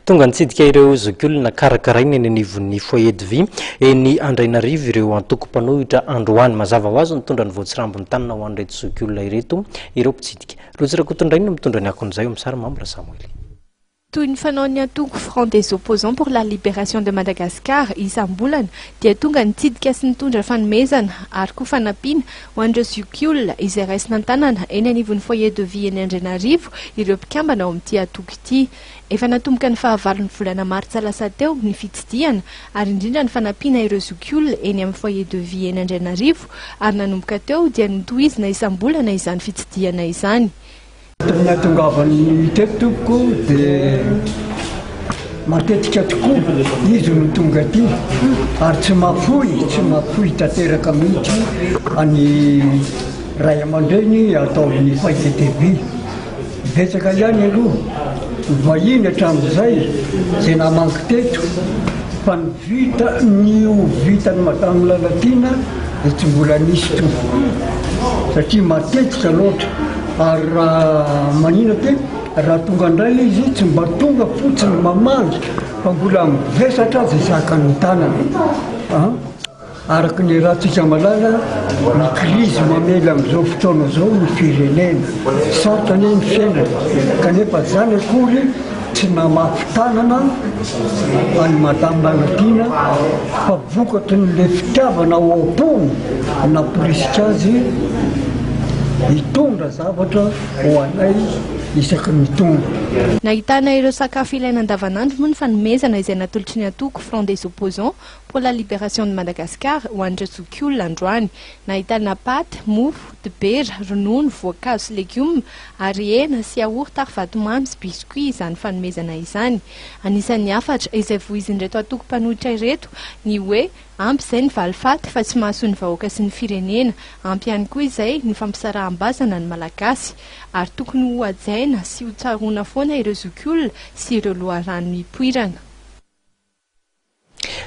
Tonga nitsidika ireo zokiolona karakaraina eny anivon'ny Foyer de Vie eny Andrainarivo ireo antoko mpanohitra androany. Mazava ho azy nitondra ny voatsirambin'ny tanana ho an'ireto zokiolona ireto ireo mpitsidika. Rojo Rakotondrainy no mitondra ny akon'izay ao amin'ny sary, Mambra Samoël. Toy ny fanaon'ny antoko Front des Opposants pour la Libération de Madagascar isam-bolana dia tonga nitsidika sy nitondra fanomezana ary koa fanampiana ho an'ireo zokiolona izay raisina an-tanana eny anivon'ny Foyer de Vie eny Andrainarivo ireo mpikambana ao amin'ity antoko ity. Efa natomboka ny fahavalon'ny volana martsa lasa teo ny fitsidihana ary indrindra ny fanampiana ireo zokiolona eny amin'ny foyer de vie eny Andrainarivo ary nanomboka teo dia notohizina isam-bolana izany fitsidihana izany. Ny nahatongavan'ny unité tompoko dia matetika tokoa izy no tonga aty ary tsy mahafoy tsy mahafoy tanteraka mihitsy ny ray aman-dreny ataon'ny foyer de vie Betsaka ihany aloha ny vahiny hatramin'izay izay namangy teto fa ny vita ny ho vitan'i Madame Lalatiana dia tsy mbola nisy intsony satria matetika loatra ary raha manina dia raha tonga indray izy tsy mba tonga fotsiny mamangy fa mbola mivesatra aza isaka ny tanana an! Araka ny rahantsika malala, ny krizy mamely amin'izao fotoana izao ny firenena. Sarotra anie ny fiainana, kanefa izany akory tsy namafy tanana an'i Madame Lalatiana fa vokatrin'ilay fitiavana ao am-pony no namporisika azy hitondra zavatra ho anay isaky ny tonga. Nahitana ireo sakafo ilaina andavanandro moa ny fanomezana izay natolotry ny antoko Front des Opposants Pour la liberation de Madagascar ho an'ireo zokiolona androany. Nahitana paty, mofo, dibera, ronono, voankazo sy legioma ary hena, siaorta ary vatomamy sy biscuits izany fanomezana izany. Anisan'ny hafatra izay voizin'ireto antoko mpanohitra ireto ny hoe ampy izay ny valifaty fa tsy mahasoa ny vahoaka sy ny firenena, ampy ihany koa izay ny fampisaraham-bazana ny Malagasy ary tokony hohajaina sy hotsaroana foana ireo zokiolona sy ireo loharano nipoirana.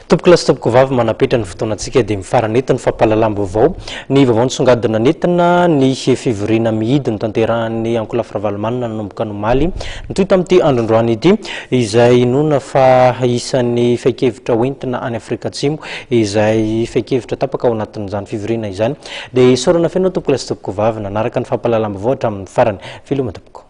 Tompokolahy sy tompokovavy manapetra ny fotoanantsika dia mifarana eto ny fampahalalam-baovao. Ny vaovao nisongadina nentina ny fivoriana mihidy notanterahan'ny ankolafy Ravalomanana nanomboka ny omaly mitohy tamin'ity androndroany ity izay inoana fa isan'ny fehin-kevitra ho entina any Afrika Atsimo izay fehin-kevitra tapaka ao anatin'izany fivoriana izany dia isaorana feno tompokolahy sy tompokovavy nanaraka ny fampahalalam-baovao hatramin'ny farany. Veloma tompoko.